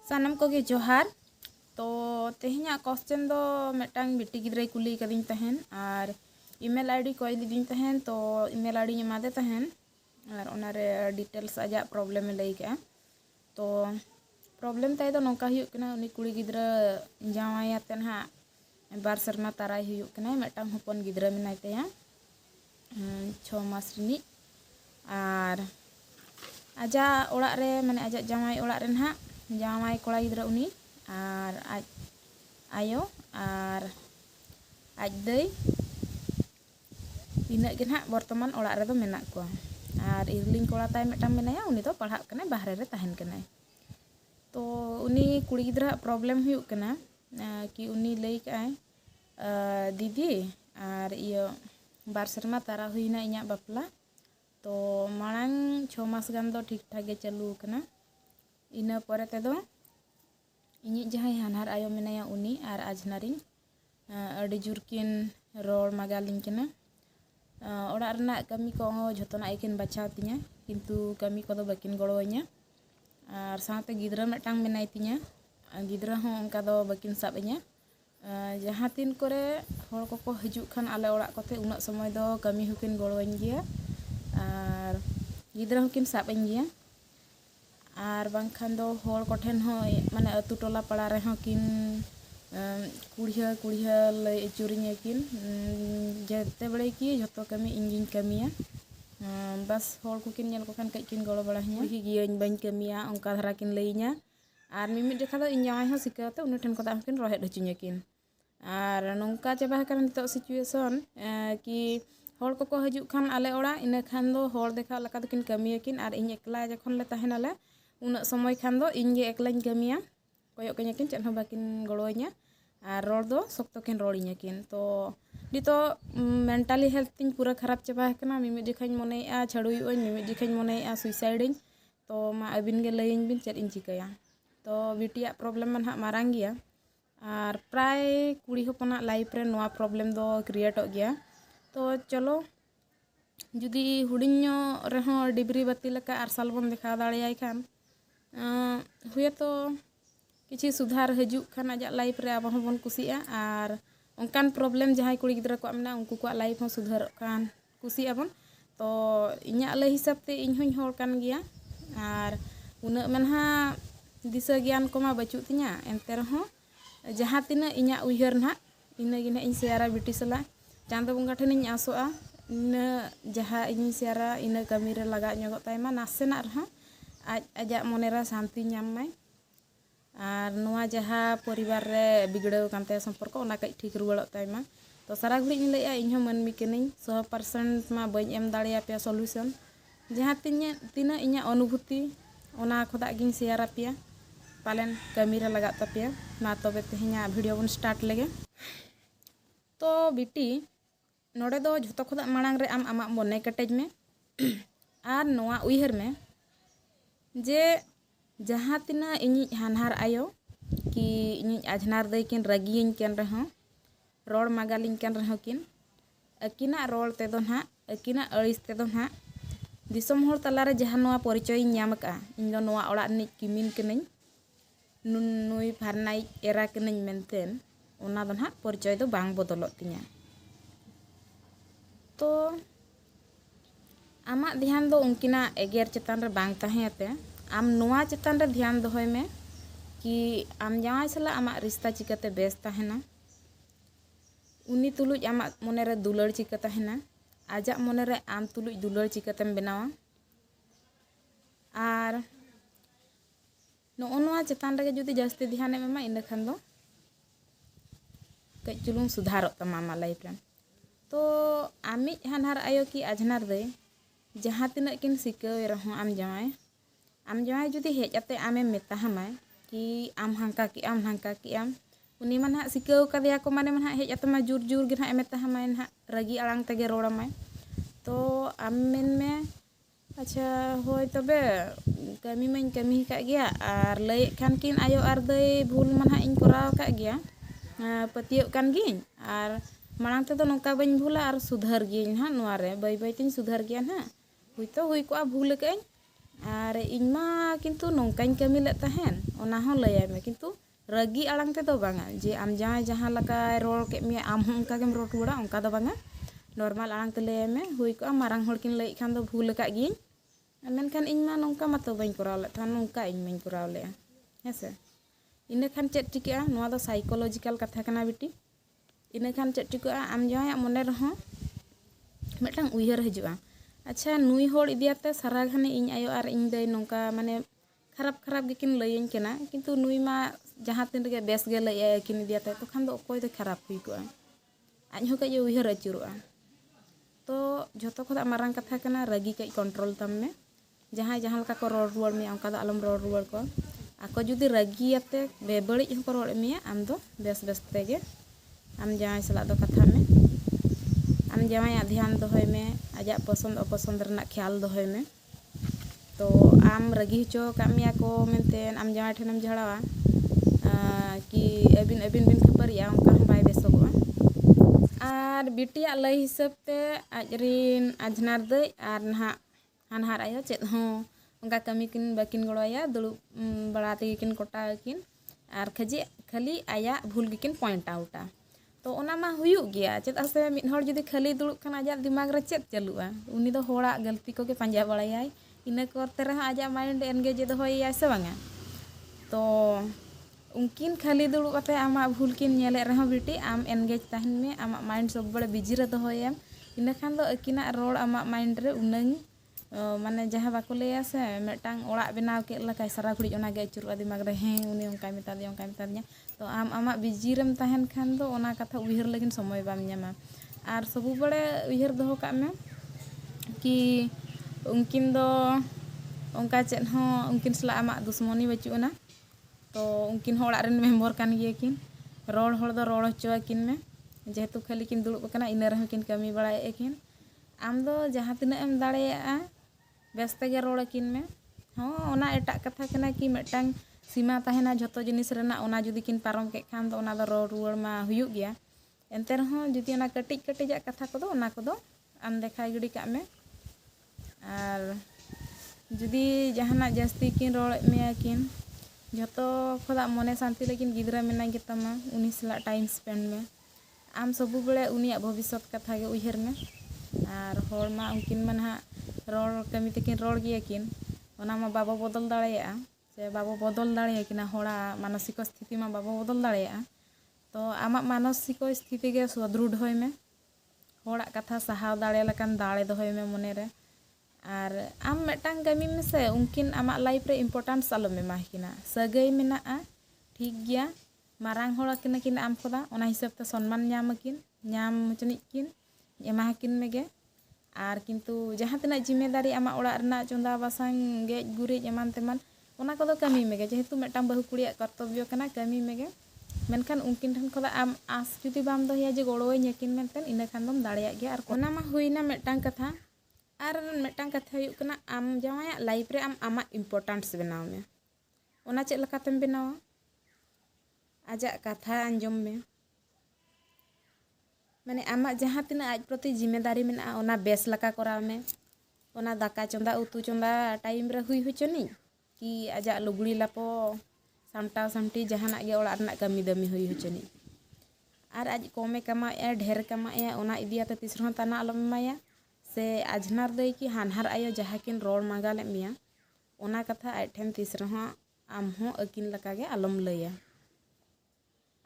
ᱥᱟᱱᱟᱢ ᱠᱚᱜᱮ ᱡᱚᱦᱟᱨ ᱛᱚ ᱛᱮᱦᱮᱧᱟᱜ ᱠᱚᱥᱪᱮᱱ ᱫᱚ ᱢᱤᱫᱴᱟᱝ ᱵᱤᱴᱤ ᱜᱤᱫᱽᱨᱟᱹᱭ ᱠᱩᱞᱤ ᱠᱟᱫᱤᱧ ᱛᱟᱦᱮᱱ ᱟᱨ ᱤᱢᱮᱞ ᱟᱭᱰᱤ ᱠᱚᱭ ᱞᱤᱫᱤᱧ ᱛᱟᱦᱮᱱ ᱛᱚ ᱤᱢᱮᱞ ᱟᱭᱰᱤᱧ ᱮᱢᱟᱫᱮ ᱛᱟᱦᱮᱱ ᱟᱨ ᱚᱱᱟᱨᱮ ᱰᱤᱴᱮᱞᱥ ᱟᱡᱟᱜ ᱯᱨᱚᱵᱞᱮᱢᱮ ᱞᱟᱹᱭ ᱠᱮᱜᱼᱟ ᱛᱚ ᱯᱨᱚᱵᱞᱮᱢ ᱛᱟᱭ ᱫᱚ ᱱᱚᱝᱠᱟ ᱦᱩᱭᱩᱜ ᱠᱟᱱᱟ ᱩᱱᱤ ᱠᱩᱲᱤ ᱜᱤᱫᱽᱨᱟᱹ ᱡᱟᱶᱟᱭ ᱟᱛᱮ ᱱᱟᱦᱟᱜ ᱵᱟᱨ ᱥᱮᱨᱢᱟ ᱛᱟᱨᱟᱭ ᱦᱩᱭᱩᱜ ᱠᱟᱱᱟᱭ ᱢᱤᱫᱴᱟᱝ ᱦᱚᱯᱚᱱ ᱜᱤᱫᱽᱨᱟᱹ ᱢᱮᱱᱟᱭ ᱛᱟᱭᱟ ᱪᱷᱚ ᱢᱟᱥ ᱨᱤᱱᱤᱡ ᱟᱨ ᱟᱡᱟᱜ ᱚᱲᱟᱜ ᱨᱮ ᱢᱟᱱᱮ ᱟᱡᱟᱜ ᱡᱟᱶᱟᱭ ᱚᱲᱟᱜ ᱨᱮ ᱱᱟᱦᱟᱜ ᱡᱟᱶᱟᱭ ᱠᱚᱲᱟ ᱜᱤᱫᱽᱨᱟᱹ ᱩᱱᱤ ᱟᱨ ᱟᱡ ᱟᱭᱳ ᱟᱨ ᱟᱡ ᱫᱟᱹᱭ ᱤᱱᱟᱹᱜ ᱜᱮ ᱱᱟᱦᱟᱜ ᱵᱚᱨᱛᱚᱢᱟᱱ ᱚᱲᱟᱜ ᱨᱮᱫᱚ ᱢᱮᱱᱟᱜ ᱠᱚᱣᱟ ᱟᱨ ᱤᱨᱤᱞᱤᱧ ᱠᱚᱲᱟ ᱛᱟᱭ ᱢᱤᱫᱴᱟᱝ ᱢᱮᱱᱟᱭᱟ ᱩᱱᱤ ᱫᱚ ᱯᱟᱲᱦᱟᱜ ᱠᱟᱱᱟᱭ ᱵᱟᱦᱨᱮ ᱨᱮ ᱛᱟᱦᱮᱱ ᱠᱟᱱᱟᱭ ᱛᱚ ᱩᱱᱤ ᱠᱩᱲᱤ ᱜᱤᱫᱽᱨᱟᱹᱣᱟᱜ ᱯᱨᱚᱵᱞᱮᱢ ᱦᱩᱭᱩᱜ ᱠᱟᱱᱟ ᱠᱤ ᱩᱱᱤ ᱞᱟᱹᱭ ᱠᱟᱜ ᱟᱭ ᱫᱤᱫᱤ ᱟᱨ ᱤᱭᱟᱹ ᱵᱟᱨ ᱥᱮᱨᱢᱟ ᱛᱟᱨᱟ ᱦᱩᱭᱱᱟ ᱤᱧᱟᱹᱜ ᱵᱟᱯᱞᱟ ᱛᱚ ᱢᱟᱲᱟᱝ ᱪᱷᱚ ᱢᱟᱥ ᱜᱟᱱ ᱫᱚ ᱴᱷᱤᱠ ᱴᱷᱟᱠ ᱜᱮ ᱪᱟᱹᱞᱩ ᱟᱠᱟᱱᱟ ᱤᱱᱟᱹ ᱯᱚᱨᱮ ᱛᱮᱫᱚ ᱤᱧᱤᱡ ᱡᱟᱦᱟᱸᱭ ᱦᱟᱱᱦᱟᱨ ᱟᱭᱳ ᱢᱮᱱᱟᱭᱟ ᱩᱱᱤ ᱟᱨ ᱟᱡᱷᱱᱟᱨᱤᱧ ᱟᱹᱰᱤ ᱡᱳᱨ ᱠᱤᱱ ᱨᱚᱲ ᱢᱟᱜᱟᱞᱤᱧ ᱠᱟᱱᱟ ᱚᱲᱟᱜ ᱨᱮᱱᱟᱜ ᱠᱟᱹᱢᱤ ᱠᱚᱦᱚᱸ ᱡᱷᱚᱛᱚᱱᱟᱜ ᱜᱮᱠᱤᱱ ᱵᱟᱪᱷᱟᱣ ᱛᱤᱧᱟᱹ ᱠᱤᱱᱛᱩ ᱠᱟᱹᱢᱤ ᱠᱚᱫᱚ ᱵᱟᱹᱠᱤᱱ ᱜᱚᱲᱚ ᱟᱹᱧᱟᱹ ᱟᱨ ᱥᱟᱶᱛᱮ ᱜᱤᱫᱽᱨᱟᱹ ᱢᱤᱫᱴᱟᱝ ᱢᱮᱱᱟᱭ ᱛᱤᱧᱟᱹ ᱜᱤᱫᱽᱨᱟᱹ ᱦᱚᱸ ᱚᱱᱠᱟ ᱫᱚ ᱵᱟᱹᱠᱤᱱ ᱥᱟᱵ ᱤᱧᱟᱹ ᱡᱟᱦᱟᱸ ᱛᱤᱱ ᱠᱚᱨᱮ ᱦᱚᱲ ᱠᱚᱠᱚ ᱦᱤᱡᱩᱜ ᱠᱷᱟᱱ ᱟᱞᱮ ᱚᱲᱟᱜ ᱠᱚᱛᱮ ᱩᱱᱟᱹᱜ ᱥᱚᱢᱚᱭ ᱫᱚ ᱠᱟᱹᱢᱤ ᱦᱚᱸᱠᱤᱱ ᱜᱚᱲᱚᱣᱟᱹᱧ ᱜᱮᱭᱟ ᱟᱨ ᱜᱤᱫᱽᱨᱟᱹ ᱦᱚᱸᱠᱤᱱ ᱥᱟᱵ ᱟᱹᱧ ᱜᱮᱭᱟ ᱟᱨ ᱵᱟᱝᱠᱷᱟᱱ ᱫᱚ ᱦᱚᱲ ᱠᱚᱴᱷᱮᱱ ᱦᱚᱸ ᱢᱟᱱᱮ ᱟᱹᱛᱩ ᱴᱚᱞᱟ ᱯᱟᱲᱟ ᱨᱮᱦᱚᱸ ᱠᱤᱱ ᱠᱩᱲᱦᱟᱹ ᱠᱩᱲᱦᱟᱹ ᱞᱟᱹᱭ ᱟᱹᱪᱩᱨᱤᱧᱟᱹ ᱠᱤᱱ ᱡᱮᱛᱮ ᱵᱟᱲᱮ ᱠᱤ ᱡᱚᱛᱚ ᱠᱟᱹᱢᱤ ᱤᱧ ᱜᱤᱧ ᱠᱟᱹᱢᱤᱭᱟ ᱵᱟᱥ ᱦᱚᱲ ᱠᱚᱠᱤᱱ ᱧᱮᱞ ᱠᱚᱠᱷᱟᱱ ᱠᱟᱹᱡ ᱠᱤᱱ ᱜᱚᱲᱚ ᱵᱟᱲᱟ ᱤᱧᱟᱹ ᱵᱩᱲᱦᱤ ᱜᱤᱭᱟᱹᱧ ᱵᱟᱹᱧ ᱠᱟᱹᱢᱤᱭᱟ ᱚᱱᱠᱟ ᱫᱷᱟᱨᱟ ᱠᱤᱱ ᱞᱟᱹᱭᱤᱧᱟᱹ ᱟᱨ ᱢᱤᱢᱤᱫ ᱡᱚᱠᱷᱟᱱ ᱫᱚ ᱤᱧ ᱡᱟᱶᱟᱭ ᱦᱚᱸ ᱥᱤᱠᱟᱹᱣ ᱠᱟᱛᱮᱫ ᱩᱱᱤ ᱴᱷᱮᱱ ᱠᱷᱚᱱᱟᱜ ᱦᱚᱸᱠᱤᱱ ᱨᱳᱦᱮᱫ ᱦᱚᱪᱚᱧᱟᱹ ᱠᱤᱱ ᱟᱨ ᱱᱚᱝᱠᱟ ᱪᱟᱵᱟ ᱟᱠᱟᱱᱟ ᱱᱤᱛᱳᱜ ᱥᱤᱪᱩᱭᱮᱥᱚᱱ ᱠᱤ ᱦᱚᱲ ᱠᱚᱠᱚ ᱦᱤᱡᱩᱜ ᱠᱷᱟᱱ ᱟᱞᱮ ᱚᱲᱟᱜ ᱤᱱᱟᱹ ᱠᱷᱟᱱ ᱫᱚ ᱦᱚᱲ ᱫᱮᱠᱷᱟᱣ ᱞᱮᱠᱟ ᱫᱚᱠᱤᱱ ᱠᱟᱹᱢᱤᱭᱟᱠᱤᱱ ᱟᱨ ᱤᱧ ᱮᱠᱞᱟ ᱡᱚᱠᱷᱚᱱ ᱞᱮ ᱛᱟᱦᱮᱱᱟᱞᱮ ᱩᱱᱟᱹᱜ ᱥᱚᱢᱚᱭ ᱠᱷᱟᱱ ᱫᱚ ᱤᱧ ᱜᱮ ᱮᱠᱞᱟᱧ ᱠᱟᱹᱢᱤᱭᱟ ᱠᱚᱭᱚᱜ ᱠᱟᱹᱧᱟᱹ ᱠᱤᱱ ᱪᱮᱫ ᱦᱚᱸ ᱵᱟᱹᱠᱤᱱ ᱜᱚᱲᱚ ᱟᱹᱧᱟᱹ ᱟᱨ ᱨᱚᱲ ᱫᱚ ᱥᱚᱠᱛᱚ ᱠᱤᱱ ᱨᱚᱲ ᱟᱹᱧᱟᱹ ᱠᱤᱱ ᱛᱚ ᱱᱤᱛᱳᱜ ᱢᱮᱱᱴᱟᱞᱤ ᱦᱮᱞᱛᱷ ᱛᱤᱧ ᱯᱩᱨᱟᱹ ᱠᱷᱟᱨᱟᱯ ᱪᱟᱵᱟ ᱟᱠᱟᱱᱟ ᱢᱤᱢᱤᱫ ᱡᱚᱠᱷᱚᱱ ᱤᱧ ᱢᱚᱱᱮᱭᱮᱜᱼᱟ ᱪᱷᱟᱹᱰᱣᱤᱜ ᱟᱹᱧ ᱢᱤᱢᱤᱫ ᱡᱚᱠᱷᱚᱱ ᱤᱧ ᱢᱚᱱᱮᱭᱮᱜᱼᱟ ᱥᱩᱭᱥᱟᱭᱤᱰ ᱟᱹᱧ ᱛᱚ ᱢᱟ ᱟᱹᱵᱤᱱ ᱜᱮ ᱞᱟᱹᱭᱟᱹᱧ ᱵᱤᱱ ᱪᱮᱫ ᱤᱧ ᱪᱤᱠᱟᱹᱭᱟ ᱛᱚ ᱵᱤᱴᱤᱭᱟᱜ ᱯᱨᱚᱵᱞᱮᱢ ᱢᱟ ᱱᱟᱜ ᱢᱟᱨᱟᱝ ᱜᱮᱭᱟ ᱟᱨ ᱯᱨᱟᱭ ᱠᱩᱲᱤ ᱦᱚᱯᱚᱱᱟᱜ ᱞᱟᱭᱤᱯᱷ ᱨᱮ ᱱᱚᱣᱟ ᱯᱨᱚᱵᱞᱮᱢ ᱫᱚ ᱠᱨᱤᱭᱮᱴᱚᱜ ᱜᱮᱭᱟ ᱛᱚ ᱪᱚᱞᱚ ᱡᱩᱫᱤ ᱦᱩᱰᱤᱧ ᱧᱚᱜ ᱨᱮᱦᱚᱸ ᱰᱤᱵᱽᱨᱤ ᱵᱟᱹᱛᱤ ᱞᱮᱠᱟ ᱟᱨᱥᱟᱞ ᱵᱚᱱ ᱫᱮᱠᱷᱟᱣ ᱫᱟᱲᱮᱭᱟᱭ ᱠᱷᱟᱱ ᱦᱳᱭᱛᱳ ᱠᱤᱪᱷᱩ ᱥᱩᱫᱷᱟᱹᱨ ᱦᱤᱡᱩᱜ ᱠᱷᱟᱱ ᱟᱡᱟᱜ ᱞᱟᱭᱤᱯᱷ ᱨᱮ ᱟᱵᱚ ᱦᱚᱸᱵᱚᱱ ᱠᱩᱥᱤᱜᱼᱟ ᱟᱨ ᱚᱱᱠᱟᱱ ᱯᱨᱚᱵᱞᱮᱢ ᱡᱟᱦᱟᱸᱭ ᱠᱩᱲᱤ ᱜᱤᱫᱽᱨᱟᱹ ᱠᱚᱣᱟᱜ ᱢᱮᱱᱟᱜᱼᱟ ᱩᱱᱠᱩ ᱠᱚᱣᱟᱜ ᱞᱟᱭᱤᱯᱷ ᱦᱚᱸ ᱥᱩᱫᱷᱟᱹᱨᱚᱜ ᱠᱟᱱ ᱠᱩᱥᱤᱜ ᱟᱵᱚᱱ ᱛᱚ ᱤᱧᱟᱹᱜ ᱞᱟᱹᱭ ᱦᱤᱥᱟᱹᱵ ᱛᱮ ᱤᱧ ᱦᱚᱸᱧ ᱦᱚᱲ ᱠᱟᱱ ᱜᱮᱭᱟ ᱟᱨ ᱩᱱᱟᱹᱜ ᱢᱟ ᱱᱟᱦᱟᱜ ᱫᱤᱥᱟᱹ ᱜᱮᱭᱟᱱ ᱠᱚᱢᱟ ᱵᱟᱹᱪᱩᱜ ᱛᱤᱧᱟᱹ ᱮᱱᱛᱮ ᱨᱮᱦᱚᱸ ᱡᱟᱦᱟᱸ ᱛᱤᱱᱟᱹᱜ ᱤᱧᱟᱹᱜ ᱩᱭᱦᱟᱹᱨ ᱱᱟᱦᱟᱜ ᱤᱱᱟᱹ ᱜᱮ ᱱᱟᱦᱟᱜ ᱤᱧ ᱥᱮᱭᱟᱨᱟ ᱵᱤᱴᱤ ᱥᱟᱞᱟᱜ ᱪᱟᱸᱫᱚ ᱵᱚᱸᱜᱟ ᱴᱷᱮᱱᱤᱧ ᱟᱥᱚᱜᱼᱟ ᱤᱱᱟᱹ ᱡᱟᱦᱟᱸ ᱤᱧᱤᱧ ᱥᱮᱭᱟᱨᱟ ᱤᱱᱟᱹ ᱠᱟᱹᱢᱤ ᱨᱮ ᱞᱟᱜᱟᱣ ᱧᱚᱜᱚᱜ ᱛᱟᱭᱢᱟ ᱱᱟᱥᱮᱱᱟᱜ ᱨᱮᱦᱚᱸ ᱟᱡ ᱟᱡᱟᱜ ᱢᱚᱱᱮ ᱨᱮ ᱥᱟᱱᱛᱤ ᱧᱟᱢ ᱢᱟᱭ ᱟᱨ ᱱᱚᱣᱟ ᱡᱟᱦᱟᱸ ᱯᱚᱨᱤᱵᱟᱨ ᱨᱮ ᱵᱤᱜᱽᱲᱟᱹᱣ ᱟᱠᱟᱱ ᱛᱟᱭᱟ ᱥᱚᱢᱯᱚᱨᱠᱚ ᱚᱱᱟ ᱠᱟᱹᱡ ᱴᱷᱤᱠ ᱨᱩᱣᱟᱹᱲᱚᱜ ᱛᱟᱭ ᱢᱟ ᱛᱚ ᱥᱟᱨᱟ ᱜᱷᱟᱹᱲᱤᱡ ᱤᱧ ᱞᱟᱹᱭᱮᱫᱼᱟ ᱤᱧ ᱦᱚᱸ ᱢᱟᱹᱱᱢᱤ ᱠᱟᱹᱱᱟᱹᱧ ᱥᱚᱭ ᱯᱟᱨᱥᱮᱱᱴ ᱢᱟ ᱵᱟᱹᱧ ᱮᱢ ᱫᱟᱲᱮᱭᱟᱯᱮᱭᱟ ᱥᱚᱞᱩᱥᱚᱱ ᱡᱟᱦᱟᱸ ᱛᱤᱧᱟᱹᱜ ᱛᱤᱱᱟᱹᱜ ᱤᱧᱟᱹᱜ ᱚᱱᱩᱵᱷᱩᱛᱤ ᱚᱱᱟ ᱠᱷᱚᱱᱟᱜ ᱜᱤᱧ ᱥᱮᱭᱟᱨ ᱟᱯᱮᱭᱟ ᱯᱟᱞᱮᱱ ᱠᱟᱹᱢᱤ ᱨᱮ ᱞᱟᱜᱟᱜ ᱛᱟᱯᱮᱭᱟ ᱢᱟ ᱛᱚᱵᱮ ᱛᱮᱦᱮᱧᱟᱜ ᱵᱷᱤᱰᱤᱭᱳ ᱵᱚᱱ ᱥᱴᱟᱨᱴ ᱞᱮᱜᱮ ᱛᱚ ᱵᱤᱴᱤ ᱱᱚᱰᱮ ᱫᱚ ᱡᱷᱚᱛᱚ ᱠᱷᱚᱱᱟᱜ ᱢᱟᱲᱟᱝ ᱨᱮ ᱟᱢ ᱟᱢᱟᱜ ᱢᱚᱱᱮ ᱠᱮᱴᱮᱡ ᱢᱮ ᱟᱨ ᱱᱚᱣᱟ ᱩᱭᱦᱟᱹᱨ ᱢᱮ ᱡᱮ ᱡᱟᱦᱟᱸ ᱛᱤᱱᱟᱹᱜ ᱤᱧᱤᱡ ᱦᱟᱱᱦᱟᱨ ᱟᱭᱳ ᱠᱤ ᱤᱧᱤᱡ ᱟᱡᱷᱱᱟᱨ ᱫᱟᱹᱭ ᱠᱤᱱ ᱨᱟᱹᱜᱤᱭᱟᱹᱧ ᱠᱟᱱ ᱨᱮᱦᱚᱸ ᱨᱚᱲ ᱢᱟᱜᱟᱞᱤᱧ ᱠᱟᱱ ᱨᱮᱦᱚᱸ ᱠᱤᱱ ᱟᱹᱠᱤᱱᱟᱜ ᱨᱚᱲ ᱛᱮᱫᱚ ᱱᱟᱦᱟᱜ ᱟᱹᱠᱤᱱᱟᱜ ᱟᱹᱲᱤᱥ ᱛᱮᱫᱚ ᱱᱟᱦᱟᱜ ᱫᱤᱥᱚᱢ ᱦᱚᱲ ᱛᱟᱞᱟᱨᱮ ᱡᱟᱦᱟᱸ ᱱᱚᱣᱟ ᱯᱚᱨᱤᱪᱚᱭ ᱤᱧ ᱧᱟᱢ ᱟᱠᱟᱫᱼᱟ ᱤᱧ ᱫᱚ ᱱᱚᱣᱟ ᱚᱲᱟᱜ ᱨᱤᱱᱤᱡ ᱠᱤᱢᱤᱱ ᱠᱟᱹᱱᱟᱹᱧ ᱱᱩᱭ ᱯᱷᱟᱨᱱᱟᱭᱤᱡ ᱮᱨᱟ ᱠᱟᱹᱱᱟᱹᱧ ᱢᱮᱱᱛᱮ ᱚᱱᱟ ᱫᱚ ᱱᱟᱦᱟᱜ ᱯᱚᱨᱤᱪᱚᱭ ᱫᱚ ᱵᱟᱝ ᱵᱚᱫᱚᱞᱚᱜ ᱛᱤᱧᱟᱹ ᱛᱚ ᱟᱢᱟᱜ ᱫᱷᱮᱭᱟᱱ ᱫᱚ ᱩᱱᱠᱤᱱᱟᱜ ᱮᱜᱮᱨ ᱪᱮᱛᱟᱱ ᱨᱮ ᱵᱟᱝ ᱛᱟᱦᱮᱸ ᱟᱛᱮ ᱟᱢ ᱱᱚᱣᱟ ᱪᱮᱛᱟᱱ ᱨᱮ ᱫᱷᱮᱭᱟᱱ ᱫᱚᱦᱚᱭ ᱢᱮ ᱠᱤ ᱟᱢ ᱡᱟᱶᱟᱭ ᱥᱟᱞᱟᱜ ᱟᱢᱟᱜ ᱨᱤᱥᱛᱟ ᱪᱤᱠᱟᱹᱛᱮ ᱵᱮᱥ ᱛᱟᱦᱮᱱᱟ ᱩᱱᱤ ᱛᱩᱞᱩᱡ ᱟᱢᱟᱜ ᱢᱚᱱᱮ ᱨᱮ ᱫᱩᱞᱟᱹᱲ ᱪᱤᱠᱟᱹ ᱛᱟᱦᱮᱱᱟ ᱟᱡᱟᱜ ᱢᱚᱱᱮ ᱨᱮ ᱟᱢ ᱛᱩᱞᱩᱡ ᱫᱩᱞᱟᱹᱲ ᱪᱤᱠᱟᱹᱛᱮᱢ ᱵᱮᱱᱟᱣᱟ ᱟᱨ ᱱᱚᱜᱼᱚ ᱱᱚᱣᱟ ᱪᱮᱛᱟᱱ ᱨᱮᱜᱮ ᱡᱩᱫᱤ ᱡᱟᱹᱥᱛᱤ ᱫᱷᱮᱭᱟᱱᱮᱢ ᱮᱢᱟ ᱤᱱᱟᱹ ᱠᱷᱟᱱ ᱫᱚ ᱠᱟᱹᱡ ᱪᱩᱞᱩᱝ ᱥᱩᱫᱷᱟᱨᱚᱜ ᱛᱟᱢᱟ ᱟᱢᱟᱜ ᱞᱟᱭᱤᱯᱷ ᱨᱮ ᱛᱚ ᱟᱢᱤᱡ ᱦᱟᱱᱦᱟᱨ ᱟᱭᱳ ᱠᱤ ᱟᱡᱷᱱᱟᱨ ᱫᱟᱹᱭ ᱡᱟᱦᱟᱸ ᱛᱤᱱᱟᱹᱜ ᱠᱤᱱ ᱥᱤᱠᱟᱹᱣᱮ ᱨᱮᱦᱚᱸ ᱟᱢ ᱡᱟᱶᱟᱭ ᱟᱢ ᱡᱟᱶᱟᱭ ᱡᱩᱫᱤ ᱦᱮᱡ ᱟᱛᱮ ᱟᱢᱮ ᱢᱮᱛᱟ ᱦᱟᱢᱟᱭ ᱠᱤ ᱟᱢ ᱦᱟᱱᱠᱟ ᱠᱮᱜ ᱟᱢ ᱱᱷᱟᱝᱠᱟ ᱠᱮᱜ ᱟᱢ ᱩᱱᱤ ᱢᱟ ᱱᱟᱦᱟᱜ ᱥᱤᱠᱟᱹᱣ ᱠᱟᱫᱮᱭᱟ ᱠᱚ ᱢᱟᱱᱮ ᱢᱟ ᱱᱟᱦᱟᱜ ᱦᱮᱡ ᱟᱛᱮ ᱢᱟ ᱡᱳᱨ ᱡᱳᱨ ᱜᱮ ᱱᱟᱦᱟᱜ ᱮ ᱢᱮᱛᱟ ᱦᱟᱢᱟᱭ ᱱᱟᱦᱟᱜ ᱨᱟᱹᱜᱤ ᱟᱲᱟᱝ ᱛᱮᱜᱮ ᱨᱚᱲ ᱟᱢᱟᱭ ᱛᱚ ᱟᱢ ᱢᱮᱱ ᱢᱮ ᱟᱪᱪᱷᱟ ᱦᱳᱭ ᱛᱚᱵᱮ ᱠᱟᱹᱢᱤ ᱢᱟᱧ ᱠᱟᱹᱢᱤ ᱟᱠᱟᱫ ᱜᱮᱭᱟ ᱟᱨ ᱞᱟᱹᱭᱮᱫ ᱠᱷᱟᱱ ᱠᱤᱱ ᱟᱭᱳ ᱟᱨ ᱫᱟᱹᱭ ᱵᱷᱩᱞ ᱢᱟ ᱱᱟᱦᱟᱜ ᱤᱧ ᱠᱚᱨᱟᱣ ᱟᱠᱟᱫ ᱜᱮᱭᱟ ᱯᱟᱹᱛᱭᱟᱹᱜ ᱠᱟᱱ ᱜᱤᱭᱟᱹᱧ ᱟᱨ ᱢᱟᱲᱟᱝ ᱛᱮᱫᱚ ᱱᱚᱝᱠᱟ ᱵᱟᱹᱧ ᱵᱷᱩᱞᱟ ᱟᱨ ᱥᱩᱫᱷᱟᱹᱨ ᱜᱤᱭᱟᱹᱧ ᱱᱟᱦᱟᱜ ᱱᱚᱣᱟ ᱨᱮ ᱵᱟᱹᱭ ᱵᱟᱹᱭ ᱛᱤᱧ ᱥᱩᱫᱷᱟᱹᱨ ᱜᱮᱭᱟ ᱱᱟᱦᱟᱜ ᱦᱳᱭ ᱛᱚ ᱦᱩᱭ ᱠᱚᱜᱼᱟ ᱵᱷᱩᱞ ᱟᱠᱟᱫ ᱟᱹᱧ ᱟᱨ ᱤᱧ ᱢᱟ ᱠᱤᱱᱛᱩ ᱱᱚᱝᱠᱟᱧ ᱠᱟᱹᱢᱤ ᱞᱮᱫ ᱛᱟᱦᱮᱱ ᱚᱱᱟ ᱦᱚᱸ ᱞᱟᱹᱭᱟᱭ ᱢᱮ ᱠᱤᱱᱛᱩ ᱨᱟᱹᱜᱤ ᱟᱲᱟᱝ ᱛᱮᱫᱚ ᱵᱟᱝᱟ ᱡᱮ ᱟᱢ ᱡᱟᱦᱟᱸᱭ ᱡᱟᱦᱟᱸ ᱞᱮᱠᱟᱭ ᱨᱚᱲ ᱠᱮᱫ ᱢᱮᱭᱟ ᱟᱢ ᱦᱚᱸ ᱚᱱᱠᱟ ᱜᱮᱢ ᱨᱚᱲ ᱨᱩᱣᱟᱹᱲᱟ ᱚᱱᱠᱟ ᱫᱚ ᱵᱟᱝᱟ ᱱᱚᱨᱢᱟᱞ ᱟᱲᱟᱝ ᱛᱮ ᱞᱟᱹᱭᱟᱭ ᱢᱮ ᱦᱩᱭ ᱠᱚᱜᱼᱟ ᱢᱟᱨᱟᱝ ᱦᱚᱲ ᱠᱤᱱ ᱞᱟᱹᱭᱮᱫ ᱠᱷᱟᱱ ᱫᱚ ᱵᱷᱩᱞ ᱟᱠᱟᱫ ᱜᱤᱭᱟᱹᱧ ᱢᱮᱱᱠᱷᱟᱱ ᱤᱧ ᱢᱟ ᱱᱚᱝᱠᱟ ᱢᱟᱛᱚ ᱵᱟᱹᱧ ᱠᱚᱨᱟᱣ ᱞᱮᱫ ᱛᱟᱦᱮᱱ ᱱᱚᱝᱠᱟ ᱤᱧ ᱢᱟᱧ ᱠᱚᱨᱟᱣ ᱞᱮᱫᱼᱟ ᱦᱮᱸ ᱥᱮ ᱤᱱᱟᱹ ᱠᱷᱟᱱ ᱪᱮᱫ ᱪᱤᱠᱟᱹᱜᱼᱟ ᱱᱚᱣᱟ ᱫᱚ ᱥᱟᱭᱠᱳᱞᱚᱡᱤᱠᱟᱞ ᱠᱟᱛᱷᱟ ᱠᱟᱱᱟ ᱵᱤᱴᱤ ᱤᱱᱟᱹ ᱠᱷᱟᱱ ᱪᱮᱫ ᱪᱤᱠᱟᱹᱜᱼᱟ ᱟᱢ ᱡᱟᱦᱟᱸᱭᱟᱜ ᱢᱚᱱᱮ ᱨᱮᱦᱚᱸ ᱢᱤᱫᱴᱟᱝ ᱩᱭᱦᱟᱹᱨ ᱦᱤᱡᱩᱜᱼᱟ ᱟᱪᱪᱷᱟ ᱱᱩᱭ ᱦᱚᱲ ᱤᱫᱤᱭᱟᱛᱮ ᱥᱟᱨᱟ ᱜᱷᱟᱱᱮ ᱤᱧ ᱟᱭᱳ ᱟᱨ ᱤᱧ ᱫᱟᱹᱭ ᱱᱚᱝᱠᱟ ᱢᱟᱱᱮ ᱠᱷᱟᱨᱟᱯ ᱠᱷᱟᱨᱟᱯ ᱜᱮᱠᱤᱱ ᱞᱟᱹᱭᱟᱹᱧ ᱠᱟᱱᱟ ᱠᱤᱱᱛᱩ ᱱᱩᱭ ᱢᱟ ᱡᱟᱦᱟᱸ ᱛᱤᱱ ᱨᱮᱜᱮ ᱵᱮᱥ ᱜᱮ ᱞᱟᱹᱭ ᱮᱫᱟᱭ ᱟᱹᱠᱤᱱ ᱤᱫᱤ ᱠᱟᱛᱮᱫ ᱛᱚᱠᱷᱚᱱ ᱫᱚ ᱚᱠᱚᱭ ᱫᱚᱭ ᱠᱷᱟᱨᱟᱯ ᱦᱩᱭ ᱠᱚᱜᱼᱟ ᱟᱡ ᱦᱚᱸ ᱠᱟᱹᱡ ᱮ ᱩᱭᱦᱟᱹᱨ ᱟᱹᱪᱩᱨᱚᱜᱼᱟ ᱛᱚ ᱡᱷᱚᱛᱚ ᱠᱷᱚᱱᱟᱜ ᱢᱟᱨᱟᱝ ᱠᱟᱛᱷᱟ ᱠᱟᱱᱟ ᱨᱟᱹᱜᱤ ᱠᱟᱹᱡ ᱠᱚᱱᱴᱨᱳᱞ ᱛᱟᱢ ᱢᱮ ᱡᱟᱦᱟᱸᱭ ᱡᱟᱦᱟᱸ ᱞᱮᱠᱟ ᱠᱚ ᱨᱚᱲ ᱨᱩᱣᱟᱹᱲ ᱢᱮᱭᱟ ᱚᱱᱠᱟ ᱫᱚ ᱟᱞᱚᱢ ᱨᱚᱲ ᱨᱩᱣᱟᱹᱲ ᱠᱚᱣᱟ ᱟᱠᱚ ᱡᱩᱫᱤ ᱨᱟᱹᱜᱤ ᱟᱛᱮᱫ ᱵᱮᱵᱟᱹᱲᱤᱡ ᱦᱚᱸᱠᱚ ᱨᱚᱲ ᱮᱫ ᱢᱮᱭᱟ ᱟᱢ ᱫᱚ ᱵᱮᱥ ᱵᱮᱥ ᱛᱮᱜᱮ ᱟᱢ ᱡᱟᱶᱟᱭ ᱥᱟᱞᱟᱜ ᱫᱚ ᱠᱟᱛᱷᱟᱜ ᱢᱮ ᱟᱢ ᱡᱟᱶᱟᱭᱟᱜ ᱫᱷᱮᱭᱟᱱ ᱫᱚᱦᱚᱭ ᱢᱮ ᱟᱡᱟᱜ ᱯᱚᱥᱚᱱᱫ ᱚᱯᱚᱥᱚᱱᱫ ᱨᱮᱱᱟᱜ ᱠᱷᱮᱭᱟᱞ ᱫᱚᱦᱚᱭ ᱢᱮ ᱛᱚ ᱟᱢ ᱨᱟᱹᱜᱤ ᱦᱚᱪᱚ ᱟᱠᱟᱫ ᱢᱮᱭᱟ ᱠᱚ ᱢᱮᱱᱛᱮ ᱟᱢ ᱡᱟᱶᱟᱭ ᱴᱷᱮᱱᱮᱢ ᱡᱷᱟᱲᱟᱣᱟ ᱠᱤ ᱟᱹᱵᱤᱱ ᱟᱹᱵᱤᱱ ᱵᱤᱱ ᱠᱷᱟᱹᱯᱟᱹᱨᱤᱜᱼᱟ ᱚᱱᱠᱟ ᱦᱚᱸ ᱵᱟᱭ ᱵᱮᱥᱚᱜᱚᱜᱼᱟ ᱟᱨ ᱵᱤᱴᱤᱭᱟᱜ ᱞᱟᱹᱭ ᱦᱤᱥᱟᱹᱵ ᱛᱮ ᱟᱡ ᱨᱮᱱ ᱟᱡᱷᱱᱟᱨ ᱫᱟᱹᱭ ᱟᱨ ᱱᱟᱦᱟᱜ ᱦᱟᱱᱦᱟᱨ ᱟᱭᱳ ᱪᱮᱫ ᱦᱚᱸ ᱚᱱᱠᱟ ᱠᱟᱹᱢᱤ ᱠᱤᱱ ᱵᱟᱹᱠᱤᱱ ᱜᱚᱲᱚᱣᱟᱭᱟ ᱫᱩᱲᱩᱵ ᱵᱟᱲᱟ ᱛᱮᱜᱮ ᱠᱤᱱ ᱠᱚᱴᱟᱣ ᱟᱹᱠᱤᱱ ᱟᱨ ᱠᱷᱟᱹᱡᱤ ᱠᱷᱟᱹᱞᱤ ᱟᱭᱟᱜ ᱵᱷᱩᱞ ᱜᱮᱠᱤᱱ ᱯᱚᱭᱮᱱᱴ ᱟᱣᱩᱴᱟ ᱛᱚ ᱚᱱᱟ ᱢᱟ ᱦᱩᱭᱩᱜ ᱜᱮᱭᱟ ᱪᱮᱫᱟᱜ ᱥᱮ ᱢᱤᱫ ᱦᱚᱲ ᱡᱩᱫᱤ ᱠᱷᱟᱹᱞᱤ ᱫᱩᱲᱩᱵ ᱠᱟᱱᱟᱭ ᱟᱡᱟᱜ ᱫᱤᱢᱟᱜᱽ ᱨᱮ ᱪᱮᱫ ᱪᱟᱹᱞᱩᱜᱼᱟ ᱩᱱᱤ ᱫᱚ ᱦᱚᱲᱟᱜ ᱜᱟᱹᱞᱛᱤ ᱠᱚᱜᱮ ᱯᱟᱸᱡᱟ ᱵᱟᱲᱟᱭᱟᱭ ᱤᱱᱟᱹ ᱠᱚᱨᱛᱮ ᱨᱮᱦᱚᱸ ᱟᱡᱟᱜ ᱢᱟᱭᱤᱱᱰ ᱮᱱᱜᱮᱡᱮ ᱫᱚᱦᱚᱭᱮᱭᱟᱭ ᱥᱮ ᱵᱟᱝᱟ ᱛᱚ ᱩᱱᱠᱤᱱ ᱠᱷᱟᱹᱞᱤ ᱫᱩᱲᱩᱵ ᱠᱟᱛᱮ ᱟᱢᱟᱜ ᱵᱷᱩᱞ ᱠᱤᱱ ᱧᱮᱞᱮᱫ ᱨᱮᱦᱚᱸ ᱵᱤᱴᱤ ᱟᱢ ᱮᱱᱜᱮᱡᱽ ᱛᱟᱦᱮᱱ ᱢᱮ ᱟᱢᱟᱜ ᱢᱟᱭᱤᱱᱰ ᱥᱚᱵ ᱵᱟᱲᱮ ᱵᱤᱡᱤ ᱨᱮ ᱫᱚᱦᱚᱭᱮᱢ ᱤᱱᱟᱹ ᱠᱷᱟᱱ ᱫᱚ ᱟᱹᱠᱤᱱᱟᱜ ᱨᱚᱲ ᱟᱢᱟᱜ ᱢᱟᱭᱤᱱᱰ ᱨᱮ ᱩᱱᱟᱹᱝ ᱢᱟᱱᱮ ᱡᱟᱦᱟᱸ ᱵᱟᱠᱚ ᱞᱟᱹᱭᱟ ᱥᱮ ᱢᱤᱫᱴᱟᱝ ᱚᱲᱟᱜ ᱵᱮᱱᱟᱣ ᱠᱮᱫ ᱞᱮᱠᱟᱭ ᱥᱟᱨᱟ ᱜᱷᱟᱹᱲᱤᱡ ᱚᱱᱟᱜᱮ ᱟᱹᱪᱩᱨᱚᱜᱼᱟ ᱫᱤᱢᱟᱜᱽ ᱨᱮ ᱦᱮᱸ ᱩᱱᱤ ᱚᱱᱠᱟᱭ ᱢᱮᱛᱟᱫᱤᱧᱟ ᱚᱱᱠᱟᱭ ᱢᱮᱛᱟᱫᱤᱧᱟ ᱛᱚ ᱟᱢ ᱟᱢᱟᱜ ᱵᱤᱡᱤ ᱨᱮᱢ ᱛᱟᱦᱮᱱ ᱠᱷᱟᱱ ᱫᱚ ᱚᱱᱟ ᱠᱟᱛᱷᱟ ᱩᱭᱦᱟᱹᱨ ᱞᱟᱹᱜᱤᱫ ᱥᱚᱢᱚᱭ ᱵᱟᱢ ᱧᱟᱢᱟ ᱟᱨ ᱥᱚᱵ ᱵᱟᱲᱮ ᱩᱭᱦᱟᱹᱨ ᱫᱚᱦᱚ ᱠᱟᱜ ᱢᱮ ᱠᱤ ᱩᱱᱠᱤᱱ ᱫᱚ ᱚᱱᱠᱟ ᱪᱮᱫ ᱦᱚᱸ ᱩᱱᱠᱤᱱ ᱥᱟᱞᱟᱜ ᱟᱢᱟᱜ ᱫᱩᱥᱢᱟᱹᱱᱤ ᱵᱟᱹᱪᱩᱜ ᱟᱱᱟ ᱛᱚ ᱩᱱᱠᱤᱱ ᱦᱚᱸ ᱚᱲᱟᱜ ᱨᱮᱱ ᱢᱮᱢᱵᱚᱨ ᱠᱟᱱ ᱜᱮᱭᱟ ᱠᱤᱱ ᱨᱚᱲ ᱦᱚᱲ ᱫᱚ ᱨᱚᱲ ᱦᱚᱪᱚ ᱟᱹᱠᱤᱱ ᱢᱮ ᱡᱮᱦᱮᱛᱩ ᱠᱷᱟᱹᱞᱤ ᱠᱤᱱ ᱫᱩᱲᱩᱵ ᱟᱠᱟᱱᱟ ᱤᱱᱟᱹ ᱨᱮᱦᱚᱸ ᱠᱤᱱ ᱠᱟᱹᱢᱤ ᱵᱟᱲᱟᱭᱮᱜᱼᱟ ᱠᱤᱱ ᱟᱢ ᱫᱚ ᱡᱟᱦᱟᱸ ᱛᱤᱱᱟᱹᱜ ᱮᱢ ᱫᱟᱲᱮᱭᱟᱜᱼᱟ ᱵᱮᱥ ᱛᱮᱜᱮ ᱨᱚᱲ ᱟᱹᱠᱤᱱ ᱢᱮ ᱦᱚᱸ ᱚᱱᱟ ᱮᱴᱟᱜ ᱠᱟᱛᱷᱟ ᱠᱟᱱᱟ ᱠᱤ ᱢᱤᱫᱴᱟᱝ ᱥᱤᱢᱟᱹ ᱛᱟᱦᱮᱱᱟ ᱡᱷᱚᱛᱚ ᱡᱤᱱᱤᱥ ᱨᱮᱱᱟᱜ ᱚᱱᱟ ᱡᱩᱫᱤ ᱠᱤᱱ ᱯᱟᱨᱚᱢ ᱠᱮᱫ ᱠᱷᱟᱱ ᱫᱚ ᱚᱱᱟ ᱫᱚ ᱨᱚᱲ ᱨᱩᱣᱟᱹᱲ ᱢᱟ ᱦᱩᱭᱩᱜ ᱜᱮᱭᱟ ᱮᱱᱛᱮ ᱨᱮᱦᱚᱸ ᱡᱩᱫᱤ ᱚᱱᱟ ᱠᱟᱹᱴᱤᱡ ᱠᱟᱹᱴᱤᱡᱟᱜ ᱠᱟᱛᱷᱟ ᱠᱚᱫᱚ ᱚᱱᱟ ᱠᱚᱫᱚ ᱟᱢ ᱫᱮᱠᱷᱟ ᱜᱤᱰᱤ ᱠᱟᱜ ᱢᱮ ᱟᱨ ᱡᱩᱫᱤ ᱡᱟᱦᱟᱱᱟᱜ ᱡᱟᱹᱥᱛᱤ ᱠᱤᱱ ᱨᱚᱲᱮᱫ ᱢᱮᱭᱟ ᱠᱤᱱ ᱡᱷᱚᱛᱚ ᱠᱷᱚᱱᱟᱜ ᱢᱚᱱᱮ ᱥᱟᱱᱛᱤ ᱞᱟᱹᱜᱤᱫ ᱜᱤᱫᱽᱨᱟᱹ ᱢᱮᱱᱟᱭ ᱜᱮᱛᱟᱢᱟ ᱩᱱᱤ ᱥᱟᱞᱟᱜ ᱴᱟᱭᱤᱢ ᱥᱯᱮᱱᱰ ᱢᱮ ᱟᱢ ᱥᱚᱵᱚ ᱵᱮᱲᱟ ᱩᱱᱤᱭᱟᱜ ᱵᱷᱚᱵᱤᱥᱚᱛ ᱠᱟᱛᱷᱟ ᱜᱮ ᱩᱭᱦᱟᱹᱨ ᱢᱮ ᱟᱨ ᱦᱚᱲ ᱢᱟ ᱩᱱᱠᱤᱱ ᱢᱟ ᱱᱟᱦᱟᱜ ᱨᱚᱲ ᱠᱟᱹᱢᱤ ᱛᱮᱠᱤᱱ ᱨᱚᱲ ᱜᱮᱭᱟ ᱠᱤᱱ ᱚᱱᱟ ᱢᱟ ᱵᱟᱵᱚ ᱵᱚᱫᱚᱞ ᱫᱟᱲᱮᱭᱟᱜᱼᱟ ᱥᱮ ᱵᱟᱵᱚ ᱵᱚᱫᱚᱞ ᱫᱟᱲᱮᱭᱟ ᱠᱤᱱᱟ ᱦᱚᱲᱟᱜ ᱢᱟᱱᱚᱥᱤᱠᱚ ᱥᱛᱷᱤᱛᱤ ᱢᱟ ᱵᱟᱵᱚ ᱵᱚᱫᱚᱞ ᱫᱟᱲᱮᱭᱟᱜᱼᱟ ᱛᱚ ᱟᱢᱟᱜ ᱢᱟᱱᱚᱥᱤᱠᱚ ᱥᱛᱷᱤᱛᱤ ᱜᱮ ᱥᱚᱫᱨᱩᱰᱷᱚᱭ ᱢᱮ ᱦᱚᱲᱟᱜ ᱠᱟᱛᱷᱟ ᱥᱟᱦᱟᱣ ᱫᱟᱲᱮ ᱞᱮᱠᱟᱱ ᱫᱟᱲᱮ ᱫᱚᱦᱚᱭ ᱢᱮ ᱢᱚᱱᱮ ᱨᱮ ᱟᱨ ᱟᱢ ᱢᱤᱫᱴᱟᱝ ᱠᱟᱹᱢᱤ ᱢᱮᱥᱮ ᱩᱱᱠᱤᱱ ᱟᱢᱟᱜ ᱞᱟᱭᱤᱯᱷ ᱨᱮ ᱤᱢᱯᱚᱨᱴᱟᱱᱥ ᱟᱞᱚᱢ ᱮᱢᱟ ᱠᱤᱱᱟ ᱥᱟᱹᱜᱟᱹᱭ ᱢᱮᱱᱟᱜᱼᱟ ᱴᱷᱤᱠ ᱜᱮᱭᱟ ᱢᱟᱨᱟᱝ ᱦᱚᱲ ᱟᱹᱠᱤᱱ ᱟᱹᱠᱤᱱ ᱮᱢ ᱠᱟᱫᱟ ᱚᱱᱟ ᱦᱤᱥᱟᱹᱵ ᱛᱮ ᱥᱚᱱᱢᱟᱱ ᱧᱟᱢ ᱟᱹᱠᱤᱱ ᱧᱟᱢ ᱦᱚᱪᱚᱱᱤᱡ ᱠᱤᱱ ᱮᱢᱟ ᱟᱹᱠᱤᱱ ᱢᱮᱜᱮ ᱟᱨ ᱠᱤᱱᱛᱩ ᱡᱟᱦᱟᱸ ᱛᱤᱱᱟᱹᱜ ᱡᱤᱢᱮᱫᱟᱨᱤ ᱟᱢᱟᱜ ᱚᱲᱟᱜ ᱨᱮᱱᱟᱜ ᱪᱚᱸᱫᱟ ᱵᱟᱥᱟᱝ ᱜᱮᱡ ᱜᱩᱨᱤᱡ ᱮᱢᱟᱱ ᱛᱮᱢᱟᱱ ᱚᱱᱟ ᱠᱚᱫᱚ ᱠᱟᱹᱢᱤ ᱢᱮᱜᱮ ᱡᱮᱦᱮᱛᱩ ᱢᱤᱫᱴᱟᱝ ᱵᱟᱹᱦᱩ ᱠᱩᱲᱤᱭᱟᱜ ᱠᱚᱨᱛᱚᱵᱽᱵᱚ ᱠᱟᱱᱟ ᱠᱟᱹᱢᱤ ᱢᱮᱜᱮ ᱢᱮᱱᱠᱷᱟᱱ ᱩᱱᱠᱤᱱ ᱴᱷᱮᱱ ᱠᱷᱚᱱ ᱟᱢ ᱟᱥ ᱡᱩᱫᱤ ᱵᱟᱢ ᱫᱚᱦᱚᱭᱟ ᱡᱮ ᱜᱚᱲᱚ ᱟᱹᱧ ᱟᱹᱠᱤᱱ ᱢᱮᱱᱛᱮ ᱤᱱᱟᱹ ᱠᱷᱟᱱ ᱫᱚᱢ ᱫᱟᱲᱮᱭᱟᱜ ᱜᱮᱭᱟ ᱟᱨ ᱚᱱᱟ ᱢᱟ ᱦᱩᱭᱱᱟ ᱢᱤᱫᱴᱟᱝ ᱠᱟᱛᱷᱟ ᱟᱨ ᱢᱤᱫᱴᱟᱝ ᱠᱟᱛᱷᱟ ᱦᱩᱭᱩᱜ ᱠᱟᱱᱟ ᱟᱢ ᱡᱟᱶᱟᱭᱟᱜ ᱞᱟᱭᱤᱯᱷ ᱨᱮ ᱟᱢ ᱟᱢᱟᱜ ᱤᱢᱯᱳᱨᱴᱮᱱᱥ ᱵᱮᱱᱟᱣ ᱢᱮ ᱚᱱᱟ ᱪᱮᱫ ᱞᱮᱠᱟᱛᱮᱢ ᱵᱮᱱᱟᱣᱟ ᱟᱡᱟᱜ ᱠᱟᱛᱷᱟ ᱟᱸᱡᱚᱢ ᱢᱮ ᱢᱟᱱᱮ ᱟᱢᱟᱜ ᱡᱟᱦᱟᱸ ᱛᱤᱱᱟᱹᱜ ᱟᱡ ᱯᱨᱚᱛᱤ ᱡᱤᱢᱮᱫᱟᱨᱤ ᱢᱮᱱᱟᱜᱼᱟ ᱚᱱᱟ ᱵᱮᱥ ᱞᱮᱠᱟ ᱠᱚᱨᱟᱣ ᱢᱮ ᱚᱱᱟ ᱫᱟᱠᱟ ᱪᱚᱸᱫᱟ ᱩᱛᱩ ᱪᱚᱸᱫᱟ ᱴᱟᱭᱤᱢ ᱨᱮ ᱦᱩᱭ ᱦᱚᱪᱚᱱᱤᱡ ᱠᱤ ᱟᱡᱟᱜ ᱞᱩᱜᱽᱲᱤ ᱞᱟᱯᱚ ᱥᱟᱢᱴᱟᱣ ᱥᱟᱢᱴᱤ ᱡᱟᱦᱟᱱᱟᱜ ᱜᱮ ᱚᱲᱟᱜ ᱨᱮᱱᱟᱜ ᱠᱟᱹᱢᱤ ᱫᱟᱹᱢᱤ ᱦᱩᱭ ᱦᱚᱪᱚᱱᱤᱡ ᱟᱨ ᱟᱡ ᱠᱚᱢᱮ ᱠᱟᱢᱟᱣᱮᱜᱼᱟ ᱰᱷᱮᱨ ᱠᱟᱢᱟᱣᱮᱜᱼᱟ ᱚᱱᱟ ᱤᱫᱤᱭᱟᱛᱮ ᱛᱤᱥ ᱨᱮᱦᱚᱸ ᱛᱟᱱᱟ ᱟᱞᱚᱢ ᱮᱢᱟᱭᱟ ᱥᱮ ᱟᱡᱷᱱᱟᱨ ᱫᱟᱹᱭ ᱠᱤ ᱦᱟᱱᱦᱟᱨ ᱟᱭᱳ ᱡᱟᱦᱟᱸ ᱠᱤᱱ ᱨᱚᱲ ᱢᱟᱸᱜᱟᱞᱮᱫ ᱢᱮᱭᱟ ᱚᱱᱟ ᱠᱟᱛᱷᱟ ᱟᱡ ᱴᱷᱮᱱ ᱛᱤᱥ ᱨᱮᱦᱚᱸ ᱟᱢ ᱦᱚᱸ ᱟᱹᱠᱤᱱ ᱞᱮᱠᱟ ᱜᱮ ᱟᱞᱚᱢ ᱞᱟᱹᱭᱟ